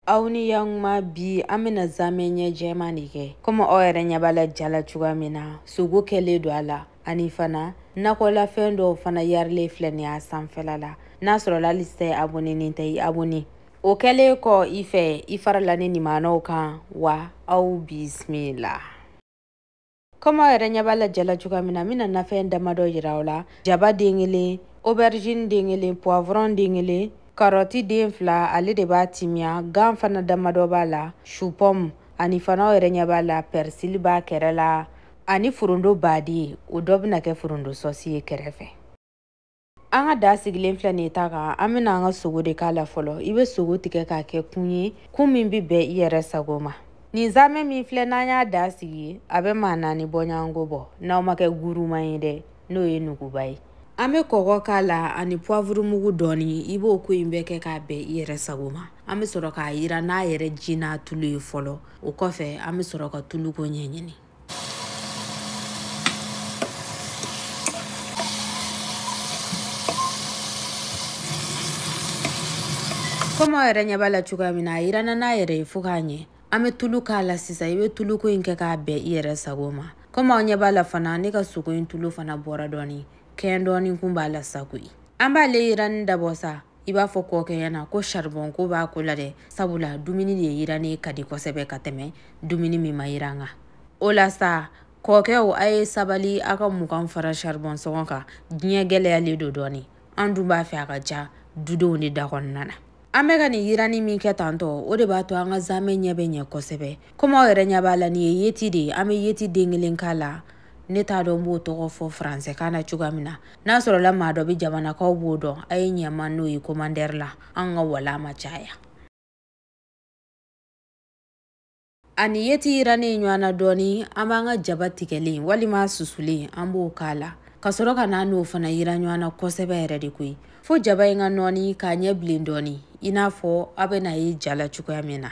aw ni yankuma bi an bɛna zamɛ ɲɛ jɛman de kɛ komi aw yɛrɛ ɲɛ b'a la ja la cogoya min na sogo kɛlen don a la ani fana nakɔlafɛn dɔw fana yarilen filɛ nin y'a sanfɛla la n'a sɔrɔla hali sisan i abonenen tɛ i abone o kɛlen kɔ i fɛ i farala ni nimanaw kan wa aw bisimila kɔmi aw yɛrɛ ɲɛ b'a la ja la cogoya min na n bɛna nafɛn damadɔ yira aw la jaba den kelen aubergine den kelen poivron den kelen karɔti den fila ale de b'a timiya gan fana damadɔ b'a la supɔmu ani fana aw yɛrɛ ɲɛ b'a la pɛrisili b'a kɛrɛ la ani forondo baadi o dɔ bɛna kɛ forondo sɔsi ye kɛrɛfɛ an ka da sigilen filɛ nin ye ta kan an bɛna an ka sogo de k'a la fɔlɔ i bɛ sogo tigɛ k'a kɛ kun ye kun min bɛ bɛn i yɛrɛ sago ma nin zamɛ min filɛ n'an y'a da sigi a bɛ maa naani bɔɲɔgɔnko bɔ n'aw ma kɛ guruman ye dɛ n'o ye nuguba ye an bɛ kɔgɔ k'a la ani puwavuru mugu dɔɔni i b'o ko in bɛɛ kɛ k'a bɛn i yɛrɛ sago ma an bɛ sɔrɔ k'a yiran n'a yɛrɛ ji n'a tulu ye fɔlɔ o kɔfɛ an bɛ sɔrɔ ka tuluko ɲɛɲini komi aw yɛrɛ ɲɛ b'a la cogoya min na a yiranna n'a yɛrɛ ye fo k'a ɲɛ an bɛ tulu k'a la sisan i bɛ tuluko in kɛ k'a bɛn i yɛrɛ sago ma komi aw ɲɛ b'a la fana ne ka sogo in tulu fana bɔra dɔɔni kɛn dɔɔni kun b'a la sa koyi an b'ale yiranni dabɔ sa i b'a fɔ kɔkɛ ɲɛna ko saribɔn ko b'a ko la dɛ sabula dumuni de yirannen ka di kosɛbɛ ka tɛmɛ dumuni min ma yiran kan o la sa kɔkɛw a ye sabali a ka mugan fara saribɔn sɔngɔ kan diɲɛ gɛlɛyalen don dɔɔni an dun b'a fɛ a ka diya dudenw de da kɔnɔna na an bɛ ka nin yiranni min kɛ tantɔ o de b'a to an ka zamɛ ɲɛ bɛ ɲɛ kosɛbɛ komi aw yɛrɛ ɲɛ b'a la nin ye yeti de ye an bɛ yeti den kelen k'a la ne t'a dɔn n b'o tɔgɔ fɔ faransɛkan na cogoya min na n'a sɔrɔla maa dɔ bɛ jama na k'aw b'o dɔn a ye ɲɛ n ma n'o ye komandɛri la an ka wala ma caya ani yeti yirannen ɲɔgɔn na dɔɔni an b'an ka jaba tigɛlen walima susulen an b'o k'a la ka sɔrɔ ka n'a n'o fana yiran ɲɔgɔn na kosɛbɛ yɛrɛ de koyi fo jaba in ka nɔɔni k'a ɲɛ bilen dɔɔni i n'a fɔ aw bɛn'a ye ja la cogoya min na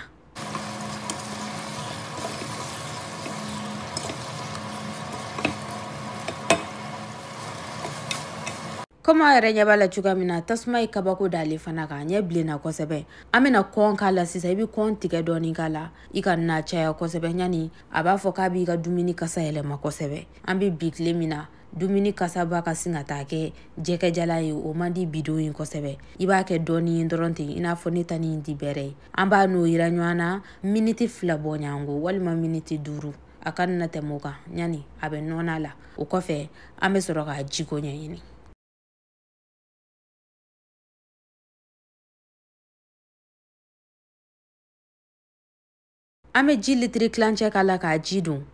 komi aw yɛrɛ ɲɛ b'a la cogoya min na tasuma ye kabako d'ale fana kan a ɲɛ bilenna kosɛbɛ an bɛna kɔn k'a la sisan i bɛ kɔn tigɛ dɔɔni k'a la i kan'a caya kosɛbɛ yanni a b'a fɔ k'a b'i ka dumuni kasa yɛlɛma kosɛbɛ an bɛ bi tile min na dumuni kasaba ka sin ka taa kɛ jɛgɛjalan ye o man di bidenw ye kosɛbɛ i b'a kɛ dɔɔni ye dɔrɔn ten i n'a fɔ ne ta nin tɛ bɛrɛ ye an b'a n'o yiran ɲɔgɔn na miniti fila bɔɲɔgɔnko walima miniti duuru a kana tɛmɛ o kan ɲani a bɛ nɔnɔ a la o kɔfɛ an bɛ sɔrɔ k'a jiko ɲɛɲini an bɛ ji litiri tilancɛ k'a la k'a ji don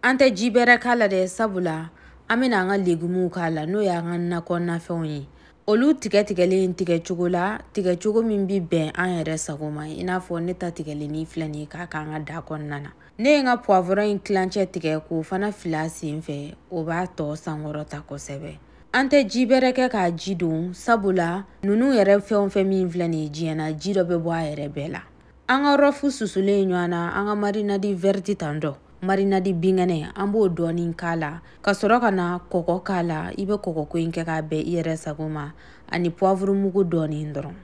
an tɛ ji bɛrɛ k'a la dɛ sabula an bɛna an ka legumuw k'a la n'o y'an ka nakɔnafɛnw ye olu tigɛ tigɛlen tigɛcogo la tigɛcogo min bɛ bɛn an yɛrɛ sago ma i n'a fɔ ne ta tigɛlen filɛ nin ye k'a k'an ka daa kɔnɔna na ne ye n ka puwavɔrɔn in tilancɛ tigɛ k'o fana fil'a sen fɛ o b'a tɔgɔ sankɔrɔta kosɛbɛ an tɛ ji bɛrɛ kɛ k'a ji don sabula ninnu yɛrɛ fɛn o fɛn min filɛ nin ye diɲɛ na ji dɔ bɛ bɔ a yɛrɛ bɛɛ la an ka rɔfu susulen ɲɔgɔn na an ka marinadi vɛriti tan dɔ marinadi binkɛnɛ an b'o dɔɔnin k'a la ka sɔrɔ ka na kɔgɔ k'a la i bɛ kɔgɔko in kɛ k'a bɛn i yɛrɛ sago ma ani puwavuru mugu dɔɔnin dɔrɔn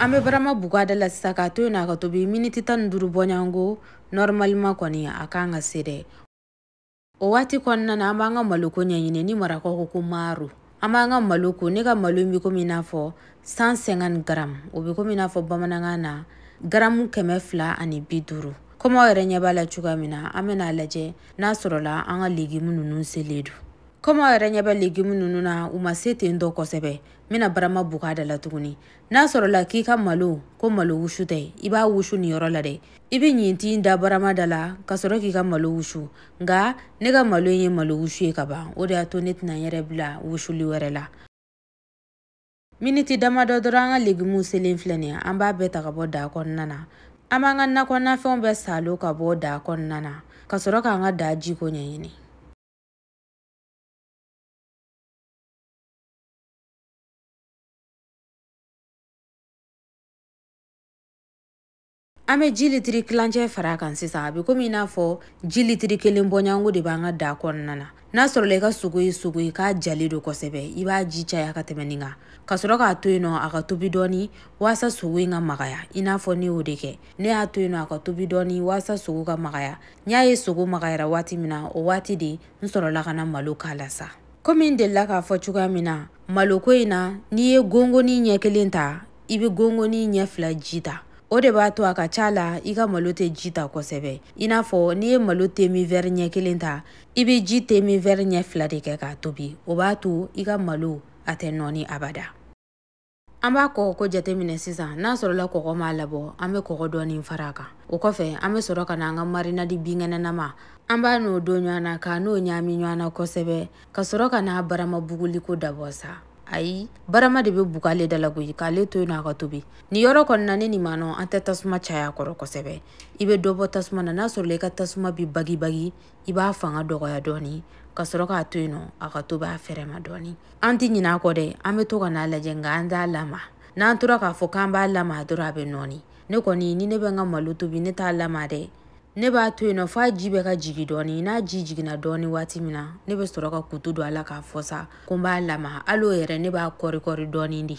an bɛ barama bug'a da la sisan k'a to yen n'a ka tobi miniti tan ni duuru bɔɲɔgɔnko nɔrɔmalima kɔni a kan ka se dɛ o waati kɔnɔna na an b'an ka maloko ɲɛɲini ni marakaw ko ko maro an b'an ka malo ko ne ka malo in bɛ komi i n'a fɔ 150 garamu o bɛ komi i n'a fɔ bamanankan na garamu kɛmɛ fila ani bi duuru komi aw yɛrɛ ɲɛ b'a la cogoya min na an bɛna a lajɛ n'a sɔrɔla an ka legimu ninnu selen don kɔmi aw yɛrɛ ɲɛ bɛ legimu ninnu na u ma se ten tɔ kosɛbɛ n bɛna barama bug'a da la tuguni n'a sɔrɔla k'i ka malo ko malo wusu tɛ i b'a wusu nin yɔrɔ la dɛ i bɛ ɲintin da barama da la ka sɔrɔ k'i ka malo wusu nka ne ka malo in ye malo wusu ye ka ban o de y'a to ne tɛna n yɛrɛ bila wusuli wɛrɛ la miniti damadɔ dɔrɔn an ka legimuw selen filɛ nin ye an b'a bɛɛ ta ka bɔ daa kɔnɔna na an b'an ka nakɔnafɛnw bɛɛ salo ka bɔ daa kɔnɔna na ka sɔrɔ k'an ka daa jiko ɲɛɲini an bɛ ji litiri tilancɛ fara a kan sisan a bɛ komi i n'a fɔ ji litiri kelen bɔɲɔgɔnko de b'an ka daa kɔnɔna na n'a sɔrɔla i ka sogo ye sogo ye k'a jalen don kosɛbɛ i b'a ji caya ka tɛmɛ nin kan ka sɔrɔ k'a to yen nɔ a ka tobi dɔɔni waasa sogo in ka magaya i n'a fɔ ne y'o de kɛ ne y'a to yen nɔ a ka tobi dɔɔni waasa sogo ka magaya n y'a ye sogo magayara waati min na o waati de n sɔrɔla ka na malo k'a la sa komi n delila k'a fɔ cogoya min na maloko in na n'i ye gongoni ɲɛ kelen ta i bɛ gongoni ɲɛ fila ji ta o de b'a to a ka ca la i ka malo tɛ ji ta kosɛbɛ i n'a fɔ n'i ye malo temi vɛri ɲɛ kelen ta i bɛ ji temi vɛri ɲɛ fila de kɛ k'a tobi o b'a to i ka malo a tɛ nɔɔni abada an b'a kɔgɔ ko jateminɛ sisan n'a sɔrɔla kɔgɔ m'a labɔ an bɛ kɔgɔ dɔɔni fara a kan o kɔfɛ an bɛ sɔrɔ ka na an ka marinadi binkɛnɛnama an b'a n'o don ɲɔgɔn na k'a n'o ɲaami ɲɔgɔn na kosɛbɛ ka sɔrɔ ka n'a barama buguliko dabɔ sa ayi barama de bɛ bugu ale da la koyi k'ale to yen nɔ a ka tobi nin yɔrɔ kɔnɔna ne nin ma nɔ an tɛ tasuma caya kɔrɔ kosɛbɛ i bɛ dɔ bɔ tasuma na n'a sɔrɔla i ka tasuma bi bagibagi i b'a fanga dɔgɔya dɔɔni ka sɔrɔ k'a to yen nɔ a ka tobi a fɛrɛ ma dɔɔni an tɛ ɲinɛ a kɔ dɛ an bɛ to ka n'a lajɛ nka an t'a lama n'an tora k'a fɔ k'an b'a lama dɔrɔn a bɛ nɔɔni ne kɔni ni ne bɛ n ka malo tobi ne t'a lama dɛ ne b'a to yen nɔ f'a ji bɛ ka jigi dɔɔni n'a ji jiginna dɔɔni waati min na ne bɛ sɔrɔ ka kutu don a la k'a fɔ sa ko n b'a lama hali o yɛrɛ ne b'a kɔri kɔri dɔɔni de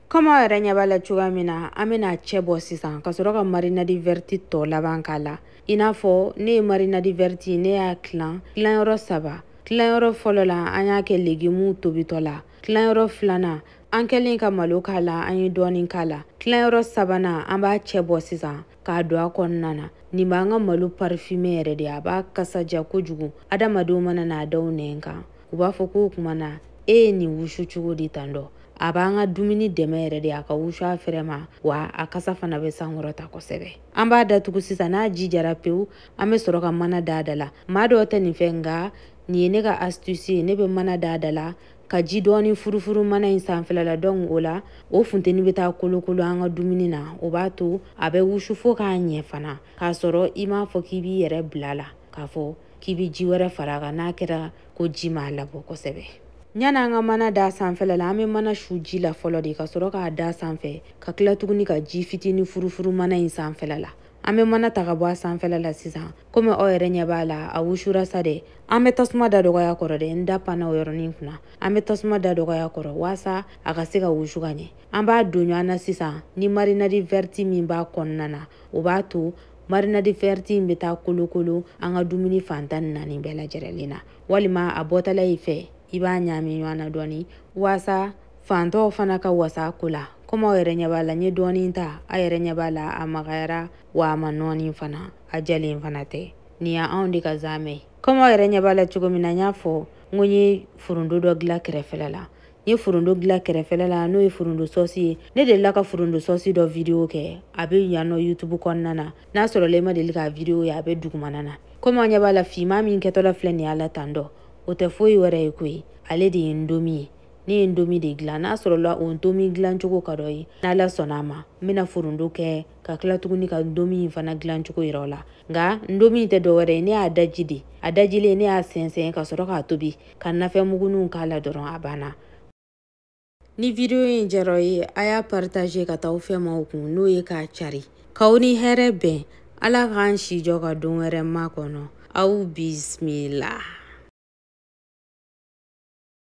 kɔmi aw yɛrɛ ɲɛ b'a la cogoya min na an bɛ n'a cɛ bɔ sisan ka sɔrɔ ka marinadi vɛriti tɔ laban k'a la i n'a fɔ ne ye marinadi vɛriti ne y'a tilan tilanyɔrɔ saba tilanyɔrɔ fɔlɔ la an y'a kɛ legimuw tobitɔ la tilanyɔrɔ filanan an kɛlen ka malo k'a la an ye dɔɔnin k'a la tilanyɔrɔ sabanan an b'a cɛ bɔ sisan k'a don a kɔnɔna na nin b'an ka malo parifime yɛrɛ de a b'a kasa diya kojugu adamadenw mana n'a da u nɛn kan u b'a fɔ k'o kuma na e ye nin wusu cogo di tan dɔ a b'an ka dumuni dɛmɛ yɛrɛ de a ka wusu a fɛrɛ ma wa a kasa fana bɛ sankɔrɔta kosɛbɛ an b'a datugu sisan n'a ji jara pewu an bɛ sɔrɔ ka mana da a da la maa dɔw tɛ nin fɛ nka nin ye ne ka astuce ye ne bɛ mana da a da la ka ji dɔɔni furufuru mana in sanfɛla la donc o la o funteni bɛ taa kolokolo an ka dumuni na o b'a to a bɛ wusu fo k'a ɲɛ fana k'a sɔrɔ i m'a fɔ k'i b'i yɛrɛ bila la k'a fɔ k'i bɛ ji wɛrɛ fara a kan n'a kɛra ko ji m'a labɔ kosɛbɛ yanni an ka mana da sanfɛla la an bɛ mana su ji la fɔlɔ de ka sɔrɔ k'a da sanfɛ ka tila tuguni ka ji fitinin furufuru mana in sanfɛla la an bɛ mana ta ka bɔ a sanfɛla la sisan komi aw yɛrɛ ɲɛ b'a la a wusura sa dɛ an bɛ tasuma da dɔgɔya kɔrɔ dɛ n da panna o yɔrɔnin kunna an bɛ tasuma da dɔgɔya kɔrɔ waasa a ka se ka wusu ka ɲɛ an b'a don ɲɔgɔn na sisan ni marinadi vɛriti min b'a kɔnɔna na o b'a to marinadi vɛriti in bɛ taa kolokolo an ka dumuni fan tan ni naani bɛɛ lajɛrɛlen na walima a bɔtɔla i fɛ i b'a ɲaami ɲɔgɔn na dɔɔni waasa fan tɔw fana ka wasa ko la komi aw yɛrɛ ɲɛ b'a la n ye dɔɔnin ta a yɛrɛ ɲɛ b'a la a magayara wa a ma nɔɔni fana a jalen fana tɛ nin y'anw de ka zaamɛ ye komi aw yɛrɛ ɲɛ b'a la cogo min na n y'a fɔ n ko n ye foronto dɔ dilan kɛrɛfɛla la n ye foronto dilan kɛrɛfɛla la n'o ye foronto sɔsi ye ne delila ka foronto sɔsi dɔ vidiyo kɛ a bɛ yan nɔ youtube kɔnɔna na n'a sɔrɔla i ma deli k'a vidiyo ye a bɛ dugumana na komi aw ɲɛ b'a la finman min kɛtɔla filɛ nin y'a la tan dɔ o tɛ foyi wɛrɛ ye koyi ale de ye ndomi ye ne ye ndomi de dilan n'a sɔrɔla o ntomi dilancogo ka d'aw ye n'ala sɔnna a ma n bɛna foronto kɛ ka tila tuguni ka ndomi in fana dilancogo yira aw la nka ndomi in tɛ dɔwɛrɛ ye ne y'a daji de a dajilen ne y'a sɛnsɛn ka sɔrɔ k'a tobi ka nafɛnmuguninw k'a la dɔrɔn a banna ni video in diyara aw ye a y'a partager ka taa aw fɛ maaw kun n'o ye k'a cari k'aw ni hɛrɛ bɛn ala k'an si jɔ ka don wɛrɛ makɔnɔ aw bismila